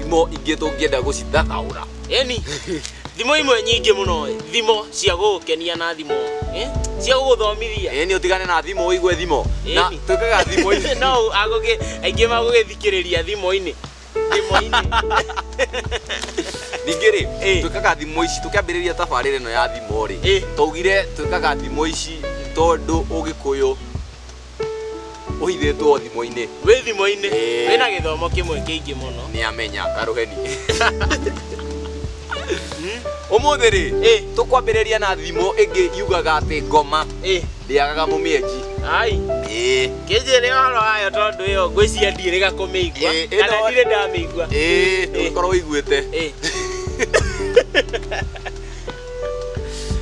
Thimo ingĩ tũngĩenda gũcithathaũra. Eni, thimo imwe nyingĩ mũno ĩ, thimo cia gũgũkenia na thimo ĩ, cia gũgũthomithia. Eni ũtigane na thimo ũigue thimo. Na Eni. twĩkaga thimo ici. No agũgĩ aingĩ magũgĩthikĩrĩria thimo-inĩ. Thimo-inĩ. Ningĩ rĩ, Ĩ. twĩkaga thimo ici tũkĩambĩrĩria tabarĩra ĩno ya thimo rĩ, Ĩ. twaugire twĩkaga thimo ici tondũ Ũgĩkũyũ ũhithĩtwo thimũ-inĩ wĩ thimũ-inĩ Ĩĩ. wĩna gĩthomo kĩmwe kĩingĩ mũno nĩ amenya karũheni ũmũthĩ rĩ Ĩ. tũkwambĩrĩria na thimũ ĩngĩ yugaga atĩ ngoma ĩ ndĩagaga mũmĩenji ai ĩĩ kĩnjĩre ũhoro wayo tondũ ĩyo ngwĩciria ndirĩga kũmĩigua Ĩ, ĩno- kana ndirĩ ndamĩigua ĩĩ ndũgĩkorwo ũiguĩte ĩ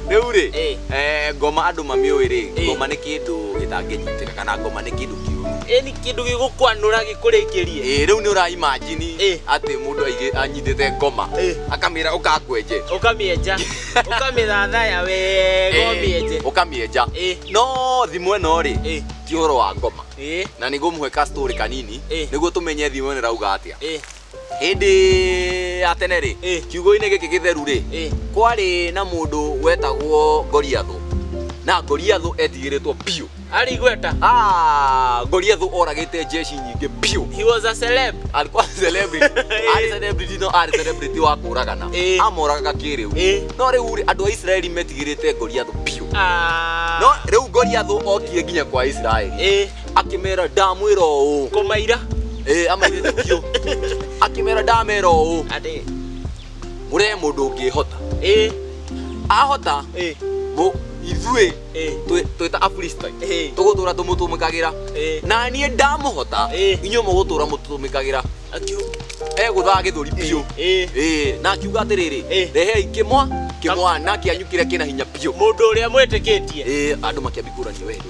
rĩu rĩ Eh. eh, ngoma andũ mamĩũĩ rĩ Eh. ngoma nĩ kĩndũ gĩtangĩnyitĩka kana ngoma nĩ kĩndũ kĩũru eni kindu gigukwanura gikurikirie Eh, rĩu nĩ ũraimajini Eh. atĩ mũndũ aigĩ- anyitĩte ngoma Eh. akamĩra ũkakwenje ukamieja ukamithathaya wega Eh, umieje ũkamĩenja Eh. no thimũ ĩno rĩ Eh. ti ũhoro wa ngoma eh na nĩguo mũhe ka story kanini Eh. nĩguo tũmenye thimũ ĩno ĩrauga atĩa eh hĩndĩ ya tene rĩ Ĩ. kiugo-inĩ gĩkĩ gĩtheru rĩ Ĩ. kwarĩ na mũndũ wetagwo ngoriathũ na ngoriathũ etigĩrĩtwo biũ Arĩ igweta. Ah, ngoriathũ oragĩte jeshi nyingĩ biũ He was a celeb. alikuwa celebrity arĩ celebrity no arĩ celebrity wa kũragana Ĩ. amoragaga kĩrĩu Ĩ. no rĩu rĩ andũ a Isiraeli metigĩrĩte ngoriathũ biũ Ah. no rĩu ngoriathũ okirie nginya kwa Isiraeli Ĩ. akĩmera ndamwĩra ũũ Kũmaira. Eh, amairĩte biũ akĩmera ndamera ũũ Atĩ. mũree mũndũ ũngĩhota Ĩ. ahota Ĩ. mũ- ithuĩ Ĩ. twĩ- twĩta afilistai Ĩ. tũgũtũra tũmũtũmĩkagĩra Ĩ. na niĩ ndamũhota Ĩ. inyuĩ mũgũtũra mũtũmĩkagĩra Akiu. egũthaga gĩthũri biũ Ĩ. Ĩ, na akiuga atĩrĩrĩ Ĩ. rehei kĩmwa kĩmwana kĩanyu kĩrĩa kĩna hinya biũ Mũndũ ũrĩa mwĩtĩkĩtie. Ĩ, andũ makĩambia kũrania wendo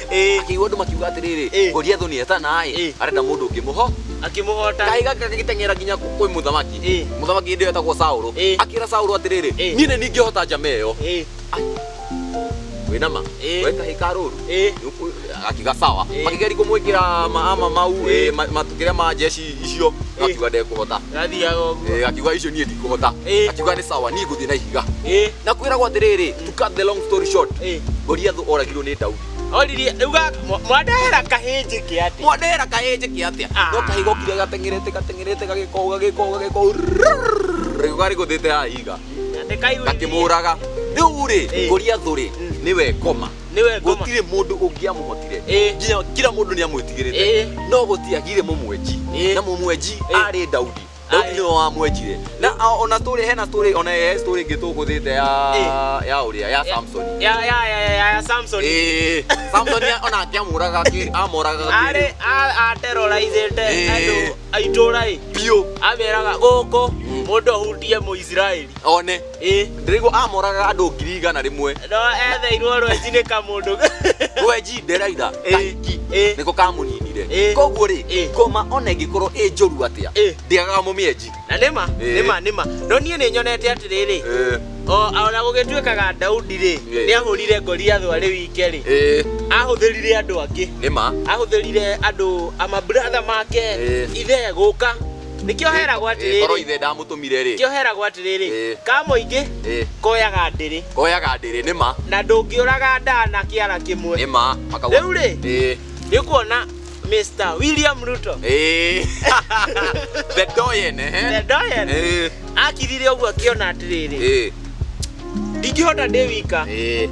Ĩĩ. akĩigua andũ makiuga atĩrĩrĩ Ĩĩ. goliathu nĩ etana Ĩĩ. ĩ arenda mũndũ ũngĩmũho akĩmũhota kaĩ gaka gagĩteng'era nginya kũ- kwĩ mũthamaki Ĩĩ. mũthamaki hĩndĩ ĩyo etagwo saũlũ Ĩĩ. akĩra saũlũ atĩrĩrĩ Ĩĩ. niĩ nĩ ningĩhota njama ĩyo Ĩĩ, wĩnama Ĩĩ. we kahĩ ka rũru ĩĩ. akiga sawa Ĩĩ. makĩgeria kũmwĩkĩra maama mau Ĩĩ. ĩĩ, ma- matukĩrĩa ma jeshi icio gakiuga ndekũhota gathiaga ũguo Eh, gakiuga icio niĩ ndikũhota Eh. gakiuga nĩ sawa niĩ ngũthiĩ na ihiga Eh, na kwĩragwo atĩrĩrĩ to cut the long story short eh. goliathũ oragirwo nĩ daudi oririe uga mwandehera kahĩnjĩ ke atĩ mwandehera kahĩnjĩ ke atĩa Ah. no kahĩga okire gateng'erete gateng'erete gagĩkoo gagĩkoo gagĩkoo rĩuga rĩgũthĩte hahiga ndĩkaigua gakĩmũraga rĩu rĩ Eh. goliathũ rĩ Mm. nĩwe ngoma Nĩwe ngoma. gũtirĩ mũndũ ũngĩamũhotire Ĩĩ. nginya kila mũndũ nĩ amwĩtigĩrĩte Ĩĩ. no gũtiagire mũmwenji Ĩĩ. na mũmwenji Ĩĩ. arĩ daudi daudi Aye. nĩwe wamwenjire na a- ona tũrĩ hena tũrĩ ona he tũrĩ ĩngĩ tũgũthĩte ya Ĩĩ. ya ũrĩa ya samson Ya ya ya ya ya Samson. Ĩĩ. samson ya- ona akĩamũraga akĩ- amũraga Arĩ akĩrĩ a a terrorizĩte Ĩĩ. andũ a itũũra ĩ. biũ Ameraga gũkũ mũndũ ahutie Mũisiraeli. one Ĩĩ. Ndĩraigua amoragaga andũ ngiri igana rĩmwe. No etheirwo rwenji nĩ kamũndũ. Rwenji nderaitha kaingi nĩko kamũninire. Koguo rĩ, ngoma ona ĩngĩkorwo ĩ njũru atĩa, ndĩagaga mũmĩenji. Na nĩ ma, nĩ ma, nĩ ma. No niĩ nĩ nyonete atĩrĩrĩ, o na gũgĩtuĩkaga Daudi rĩ, nĩ ahũrire Goliathũ arĩ wike rĩ, ahũthĩrire andũ angĩ. Nĩ ma. Ahũthĩrire andũ, a ma brother make, ithe gũka Nĩkĩo heragwo Ĩ, korwo atĩrĩrĩ, ithe ndamũtũmire rĩ nĩkĩo heragwo atĩrĩrĩ, Ĩ. ka mũingĩ Ĩ. koyaga ndĩrĩ koyaga ndĩrĩ nĩ ma na ndũngĩũraga ndaa na kĩara kĩmwe. nĩ ma makauga Rĩu rĩ? Ĩ, Nĩ kuona Mr. William Ruto ĩ. the doyen eh? the Doyen Ĩ, akirire ũguo akĩona atĩrĩrĩ, ĩ, ndingĩhota ndĩ wika. ĩ.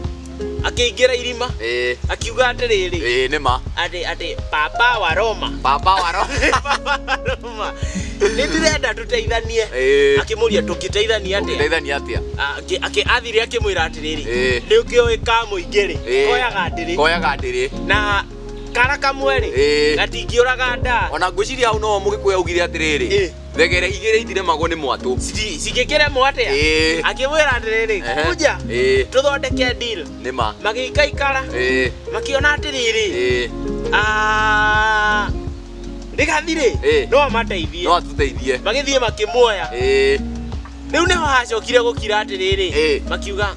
akĩingĩra irima Eh, akiuga atĩrĩrĩ eh, nĩ ma. atĩ atĩ papa wa roma Papa wa roho. papa wa roma nĩ ndĩrenda tũteithanie Eh, akĩmũria tũngĩteithania atĩa ũngĩteithania atĩa? Ah, akĩ- akĩ- athire akĩmwĩra atĩrĩrĩ Eh. nĩ ũkĩũĩ ka mũingĩ rĩ Eh. koyaga ndĩrĩ Koyaga ndĩrĩ. na kara kamwe rĩ Eh. gatingĩũraga ndaa Ona ngwĩciria hau no mũgĩkũya augire atĩrĩrĩ. Eh. thegere igĩrĩ itiremagwo nĩ mwatũ Ci- cigĩkĩremwo atĩa Ĩĩ. akĩmwĩra atĩrĩrĩ Ehe. kuja Ĩĩ. tũthondeke deal nĩ ma magĩikaikara Ĩĩ, makĩona atĩrĩrĩ ĩĩ, "Ah, rĩgathirĩ Ĩĩ. no amateithie no atũteithie magĩthiĩ makĩmuoya Ĩĩ, rĩu nĩho hacokire gũkira atĩrĩrĩ Ĩĩ. makiuga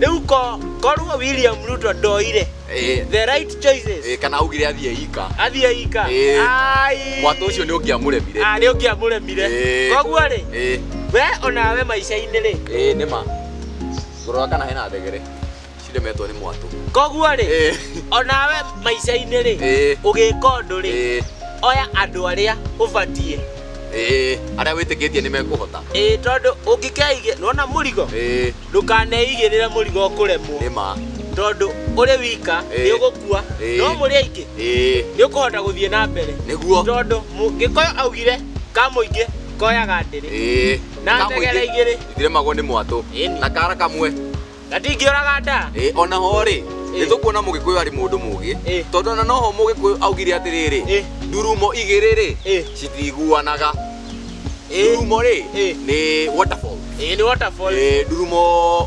Rĩu ko korwo William Ruto ndoire Eh, the right choices eh, kana augire athiĩ ika athiĩ ika Eh. ai mwatũ ũcio nĩ ũngĩamũremire Ah, nĩ ũngĩamũremire Eh. koguo rĩ Eh, we onawe maica-inĩ rĩ eh, nĩ ma ngũrora kana hena thegere ciremetwo nĩ mwatũ koguo rĩ Eh, onawe maica-inĩ rĩ eh, ũgĩka ũndũ rĩ eh, oya andũ arĩa ũbatiĩ eh, arĩa wĩtĩkĩtie nĩ mekũhota ĩĩ tondũ ũngĩkeige nona mũrigo Eh, ndũkaneigĩrĩre mũrigo ũkũremwo nĩ ma tondũ ũrĩ wika Ĩĩ. nĩ ũgũkua Ĩĩ. no mũrĩ aingĩ ĩĩ nĩ ũkũhota gũthiĩ na mbere nĩguo tondũ mũngĩkoyo augire ka mũingĩ koyaga ndĩrĩ ĩĩ na Ka mũingĩ- tegera igĩrĩ itiremagwo nĩ mwatũ Ĩni. na kara kamwe gatingĩũraga nda Ĩĩ, ona ho rĩ Ĩĩ. nĩ tũkuona mũgĩkũyũ arĩ mũndũ mũgĩ Ĩĩ. tondũ ona noho mũgĩkũyũ augire atĩrĩrĩ Ĩĩ. ndurumo igĩrĩ rĩ Ĩĩ. citiiguanaga ndurumo rĩ Eh. nĩ waterfall ĩĩ nĩ waterfall Eh, ndurumo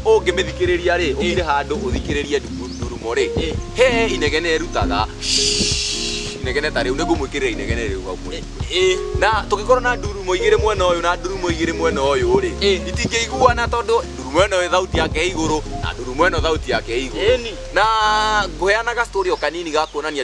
ũngĩmĩthikĩrĩria rĩ ũkire handũ ũthikĩrĩrie ndu- ndurumo rĩ Eh. he inegene ĩrutaga inegene ta rĩu nĩngũmwĩkĩrĩra inegene rĩu hau mũrĩ ĩĩ na tũngĩkorwo na ndurumo igĩrĩ mwena ũyũ na ndurumo igĩrĩ mwena ũyũ rĩ Eh. itingĩiguana tondũ ndurumo ĩno ĩ thauti yake ĩ igũrũ na ndurumo ĩno thauti yake ĩ igũrũ Ĩni. na ngũheanaga story o kanini ga kuonania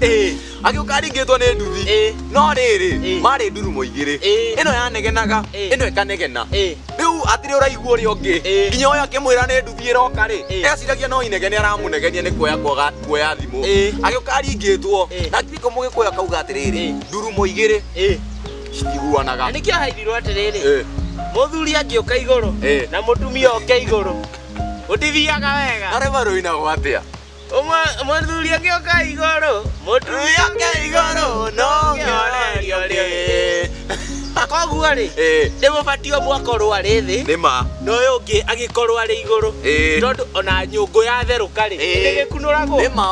Ĩĩ. agĩũka aringĩtwo nĩ nduthi Ĩĩ. no rĩrĩ Ĩĩ. marĩ ndurumo igĩrĩ Ĩĩ. ĩno yanegenaga Ĩĩ. ĩno ĩkanegena Ĩĩ. rĩu atĩrĩ ũraigua ũrĩa ũngĩ Ĩĩ. nginya ũyũ akĩmwĩra nĩ nduthi ĩroka rĩ Ĩĩ. eciragia no inegene aramũnegenia nĩ kuoya kwaga kuoya thimũ Ĩĩ. agĩũka aringĩtwo Ĩĩ. na kiko mũgĩkũyũ akauga atĩrĩrĩ Ĩĩ. ndurumo igĩrĩ Ĩĩ. citiguanaga Na nĩkĩo haithirwo atĩrĩrĩ Ĩĩ. mũthuri angĩũka igũrũ Ĩĩ. na mũtumia oke igũrũ gũtithiaga wega arĩ marũinago atĩa mũthuri angĩ oka igũrũ mũtumia oka igũrũ no ngĩorerio rĩ koguo rĩ Eh. nĩ mũbatiĩ ũmwe akorwo arĩ thĩ nĩ ma na ũyũ ũngĩ agĩkorwo arĩ igũrũ Eh. tondũ ona nyũngũ yatherũka rĩ Eh. ndĩgĩkunũragwo nĩ ma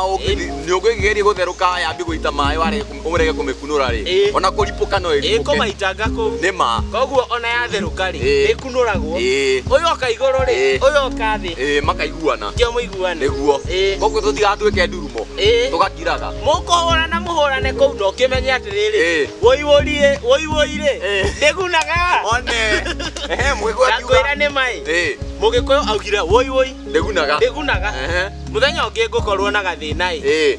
nyũngũ ĩngĩgeria gũtherũka yambi gũita maĩ warega ũmũrege kũmĩkunũra rĩ Ĩĩ. ona kũripũka no ĩripũke ĩkũmaitanga kũu nĩ ma koguo ona yatherũka rĩ Ĩĩ. ĩkunũragwo Ĩĩ. ũyũ oka igũrũ rĩ Ĩĩ. ũyũ oka thĩ Ĩĩ, makaiguana kĩo mũiguane nĩguo Ĩĩ. koguo tũtigatuĩke ndurumo Ĩĩ. tũgakiraga mũkũhũrana mũhũrane kũu na ũkĩmenye atĩrĩrĩ Ĩĩ. wũiwũrie wũiwũirĩ Ĩĩ. ndĩgunaga one ehe mũgĩkũyũ ndakwĩra akiuga nĩ maĩ Ĩĩ, mũgĩkũyũ augire wũiwũi ndĩgunaga ndĩgunaga Ehe. mũthenya ũngĩ ngũkorwo na gathĩna ĩ Ĩĩ.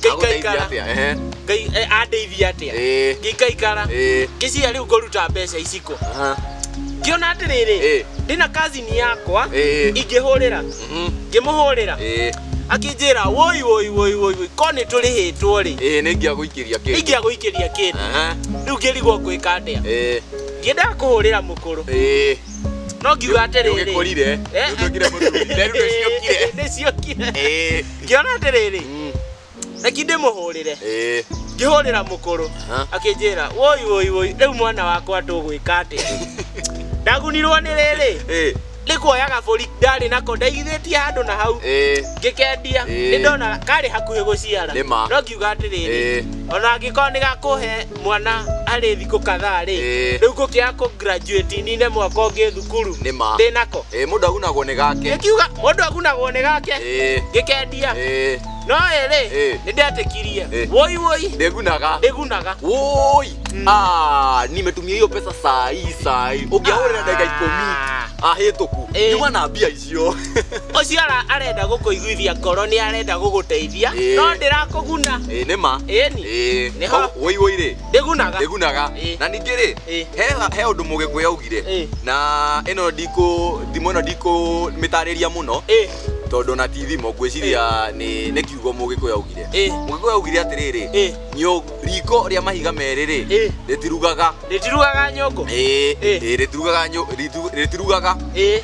Ngĩikaikara. atĩa ehe Ngai- eh, andeithia atĩa ĩĩ ngĩikaikara ĩĩ ngĩciria rĩu ngũruta mbeca iciko aha ngĩona atĩrĩrĩ ĩĩ ndĩna kazini yakwa ĩĩ ingĩhũrĩra mhm ngĩmũhũrĩra ĩĩ akĩnjĩra woi woi woi woi woi ko nĩ tũrĩhĩtwo rĩ ĩĩ nĩ ingĩa gũikĩria kĩndũ ingĩa gũikĩria kĩndũ aha rĩu ngĩrigwo ngwĩka atĩa ĩĩ ngĩendaga kũhũrĩra mũkũrũ ĩĩ no ngiuga atĩrĩrĩ Nĩũgĩkũrire, Eh, nĩũtuĩkire mũtu. Nderu nĩciũkire. Eh, nĩciũkire Ĩĩ, ngĩona atĩrĩrĩ mm, reki ndĩmũhũrĩre ĩĩ. ngĩhũrĩra mũkũrũ Aha. akĩnjĩra woi woi woi rĩu mwana wakwa tũgwĩka atĩa ndagunirwo nĩ rĩrĩ Ĩĩ, nĩ kuoya gabũri ndarĩ nako ndaigithĩtie handũ na hau ĩĩ. ngĩkendia Ĩĩ. nĩ ndona karĩ hakuhĩ gũciara Nĩ ma. no ngiuga atĩrĩrĩ Ĩĩ. ona angĩkorwo nĩ gakũhe mwana arĩ thikũ kadhaa rĩ Ĩĩ. rĩu ngũkĩaga kũ graduate nine mwaka ũngĩ thukuru Nĩ ma. ndĩ nako Ĩĩ, mũndũ agunagwo nĩ gake ngiuga mũndũ agunagwo nĩ gake Ĩĩ, gĩkendia ĩĩ, no ĩrĩ Ĩĩ. nĩ ndetĩkirie Ĩĩ. woi woi ndĩgunaga ndĩgunaga woi Mm. Ah, nimetumia hiyo pesa saa hii saa hii ũngĩahũrĩra ndagĩka ikũmi Ah. ahĩtũku Ĩĩ. nyuma na mbia icio ũcio ũcio ara- arenda gũkũiguithia ngoro nĩ arenda gũgũteithia Ĩĩ. no ndĩrakũguna ĩĩ nĩ ma ĩni ĩĩ Nĩho. woi woi rĩ ndĩgunaga ndĩgunaga Ĩĩ. na ningĩ rĩ Ĩĩ. he he ũndũ mũgĩkũyũ augire Ĩĩ. na ĩno ndikũ thimo ĩno ndikũmĩtarĩria mũno Ĩĩ, tondũ na ti thimo ngwĩciria nĩ nĩ kiugo mũgĩkũyũ augire Ĩĩ. mũgĩkũyũ augire atĩrĩrĩ Ĩĩ. nyũ riko rĩa mahiga merĩ rĩ Ĩĩ. rĩtirugaga ndĩtirugaga nyũngũ ĩĩ Ĩĩ. ĩĩ, rĩtirugaga nyũ ritu- rĩtirugaga ĩĩ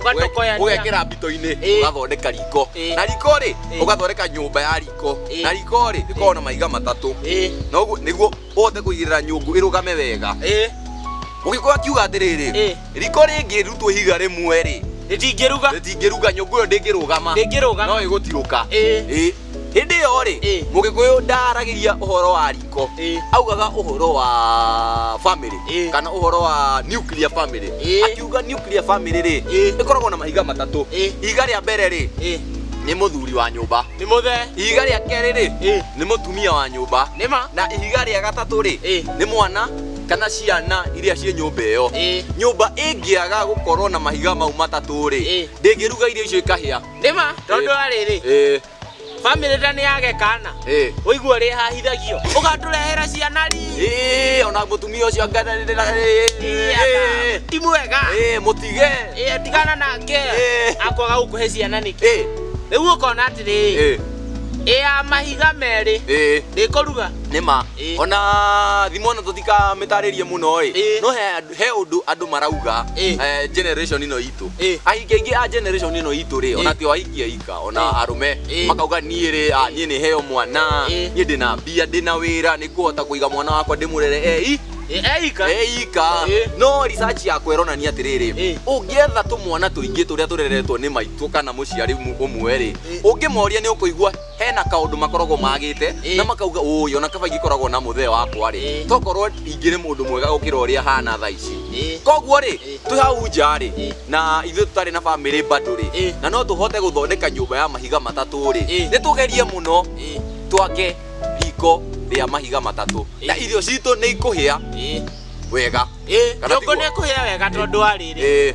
ũgatokoyania ũgekĩra mbito-inĩ Ĩĩ. ũgathondeka riko Ĩĩ. na riko rĩ Ĩĩ. ũgathondeka nyũmba ya riko Ĩĩ. na riko rĩ rĩkoragwo na mahiga matatũ Ĩĩ, noguo nĩguo ũhote kũigĩrĩra nyũngũ ĩrũgame wega ĩĩ, ũgĩkorwo akiuga atĩrĩrĩ Ĩĩ. riko rĩngĩrutwo ihiga rĩmwe rĩ rĩtingĩruga rĩtingĩruga nyũngũ ĩyo ndĩngĩrũgama Ndĩngĩrũgama. no ĩgũtirũka Ĩĩ. Ĩĩ. hĩndĩ ĩyo rĩ Ĩ. mũgĩkũyũ ndaaragĩria ũhoro wa riko Ĩ. augaga ũhoro wa family Ĩ. kana ũhoro wa nuclear family Ĩ. akiuga nuclear family rĩ Ĩ. ĩkoragwo na mahiga matatũ Ĩ. ihiga rĩa mbere rĩ Ĩ. nĩ mũthuri wa nyũmba Nĩ mũthe. ihiga rĩa kerĩ rĩ Ĩ. nĩ mũtumia wa nyũmba Nĩ ma. na ihiga rĩa gatatũ rĩ Ĩ. nĩ mwana kana ciana iria ciĩ nyũmba ĩyo Ĩ. nyũmba ĩngĩaga gũkorwo na mahiga mau matatũ rĩ Ĩ. ndĩngĩruga irio icio ikahĩa Nĩma tondũ arĩrĩ Eh, family ta nĩ yage kana eh. ũigua rĩ hahithagio ũgatũrehera ciana ri Eh, ona mũtumia ũcio ngananĩrĩra Ĩaga. ti mwega mũtige Ĩĩ, tigana nake Ĩĩ. akwaga gũkũhe ciana nĩkĩ Eh, rĩu ũkona atĩrĩ eh, ĩya mahiga merĩ eh. ndĩkũruga nĩma Ĩĩ. ona thimũ ĩno tũtikamĩtarĩrie mũno ĩ Ĩĩ. no he andũ- he ũndũ andũ marauga Ĩĩ. eh, generation ĩno itũ itũ Eh. ahikia aingĩ a generation ĩno itũ rĩ ona Eh. tio ahikia ika ona Eh. arũme Eh. makauga niĩ rĩ ah, niĩ nĩ heo mwana Eh. niĩ ndĩna mbia ndĩna wĩra nĩ kũhota kũiga mwana wakwa ndĩmũrere ei eika eika Eh. no research yakwa ĩronania atĩrĩrĩ Eh. ũngĩetha tũmwana tũingĩ tũrĩa tũreretwo nĩ maitũ kana mũciari mu- ũmwe rĩ Eh. ũngĩmoria nĩ ũkũigua hena kaundu makoragwo magite Ĩĩ. na makauga uyu ona kaba igikoragwo na muthe wakwa ri Ĩĩ. tokorwo ingiri mundu mwega gukira uria hana tha ici Ĩĩ. koguo ri Ĩĩ. twi hau nja ri Ĩĩ. na ithuĩ tutari na family bado ri Ĩĩ. na no tuhote guthondeka nyumba ya mahiga matatu ri Ĩĩ. ni tugerie muno Ĩĩ. twake riko ria mahiga matatu Ĩĩ. na irio citu ni ikuhia Ĩĩ. wega Ĩĩ. Kana Nyũngũ tiguo? nĩ ĩkũhĩa wega tondũ wa rĩrĩ Ĩĩ.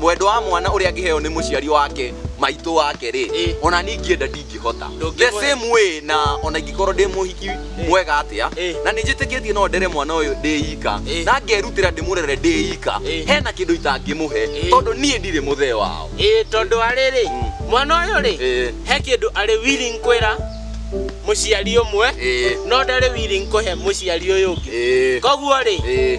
mwendwa wa mwana ũrĩa angĩheo nĩ mũciari wake maitũ wake rĩ Ĩ. ona niĩ ingĩenda ndingĩhota the Ndũngĩhota. same way na ona ingĩkorwo ndĩ mũhiki mwega atĩa Ĩ. na nĩ njĩtĩkĩtie no ndere mwana ũyũ ndĩ ika Ĩ. na ngerutĩra ndĩmũrere ndĩ ika Ĩ. hena kĩndũ itangĩmũhe Ĩ. tondũ niĩ ndirĩ mũthee wao ĩĩ tondũ wa rĩrĩ Mm. mwana ũyũ rĩ Ĩ. he kĩndũ arĩ willing kwĩra mũciari ũmwe Ĩ. no ndarĩ willing kũhe mũciari ũyũ ũngĩ Ĩ. koguo rĩ Ĩ.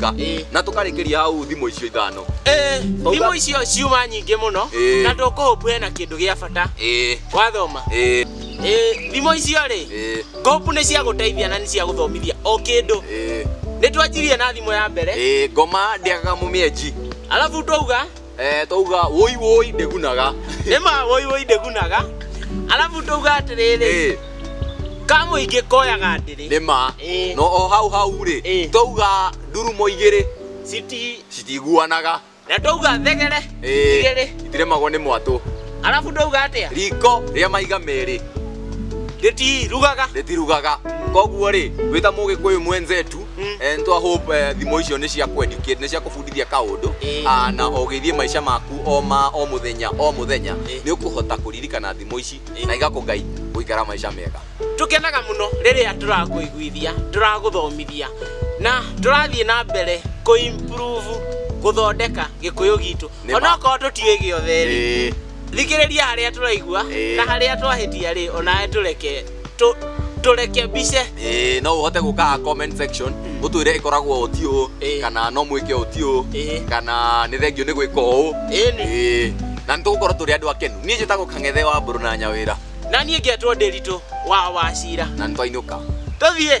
Ka. Ĩĩ. Na tũkarĩkĩria hau thimũ icio ithano. Eh, Oga- thimũ icio ciuma nyingĩ mũno Ĩĩ. na ndũkũhũpu hena kĩndũ gĩa bata Ĩĩ. wathoma Ĩĩ. Ĩĩ, thimũ icio rĩ Ĩĩ. ngũhũpu nĩ cia gũteithia na nĩ cia gũthomithia o kĩndũ Ĩĩ. nĩ twanjirie na thimũ ya mbere Ĩĩ. Ngoma ndĩagaga mũmĩenji. alafu twauga Eh, twauga woi woi ndĩgunaga nĩma woi woi ndĩgunaga arabu ndauga atĩrĩrĩ Eh, kamũingĩ koyaga ndĩrĩ nĩma Eh. no o hau hau rĩ Eh. twauga ndurumo igĩrĩ citi citiguanaga na ndauga thegere Eh, igĩrĩ itiremagwo nĩ mwatũ arabu ndauga atĩa riko rĩa maiga merĩ rĩtirugaga rĩtirugaga koguo rĩ wĩta mũgĩkũyũ mwenzetu Mm. Eh, nitwa hope eh, thimo icio nĩ cia kweducate nĩ cia kũbundithia kaũndũ Eh. Ah, na ũgĩthiĩ maica maku o ma o mũthenya o mũthenya Eh. nĩ ũkũhota kũririkana thimo ici Eh. na igakũgai gũikara maica mega tũkenaga mũno rĩrĩa tũrakũiguithia tũragũthomithia na tũrathiĩ na mbere kũimprove gũthondeka gĩkũyũ gitũ Nĩ ma. onokorwo tũtiũĩ gĩothe rĩ Eh. thikĩrĩria harĩa tũraigua Eh. na harĩa twahĩtia rĩ onawe tũreke tå tå reke mbice Ĩĩ, no ũhote gũka haha comment section ũtwĩre ĩkoragwo ũti ũũ Ĩĩ. kana no mwĩke ũti ũũ Ĩĩ. kana nĩ thengio nĩ gwĩka ũũ Ĩni. Ĩĩ, na nĩ tũgũkorwo tũrĩ andũ akenu niĩ njĩtagwo kang'ethe wa mbũrũ na nyawĩra na niä ngetwo ndä ritå wa wacira na nĩ twainũka tå thiä